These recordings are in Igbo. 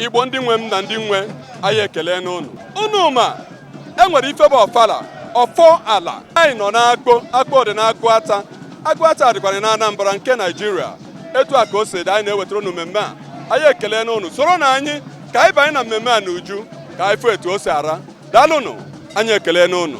igbo ndị nwe m na ndị nwe anyị ekelene ụnụ ụnụ ma e nwere ife bụ ọfala ọfọ ala anyị nọ n'akpo akpo dị n'aguata aguata dịkwara na anambra nke naijiria etu a ka o si dị anyị na-ewetara ụnụ mmemme a anyị ekelene ụnụ soronụ anyị ka anyị banye na mmemme a n'uju ka anyị fụ etu o si aga daalụnụ anyị ekelene ụnụ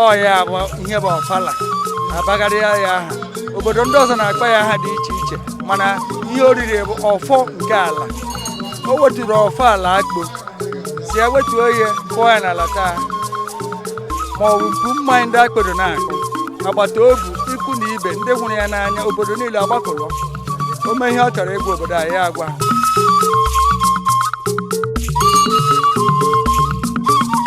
ọ ya bụ ihe bụ ọfala a bagharịa ya aha obodo ndị ọzọ na-akpọ ya aha dị iche iche mana ihe oriri bụ ọfọ nke ala o weturu ọfọ ala akpo sị ya wetuo ya kụọ ya n'ala taa ma ọ bụ mpu mmanya ndị obodo na-akụ agbata obi ikwu na ibe ndị hụrụ ya n'anya obodo niile agbakọrọ o nwee ihe ọ chọrọ ịgwa obodo a ya agwa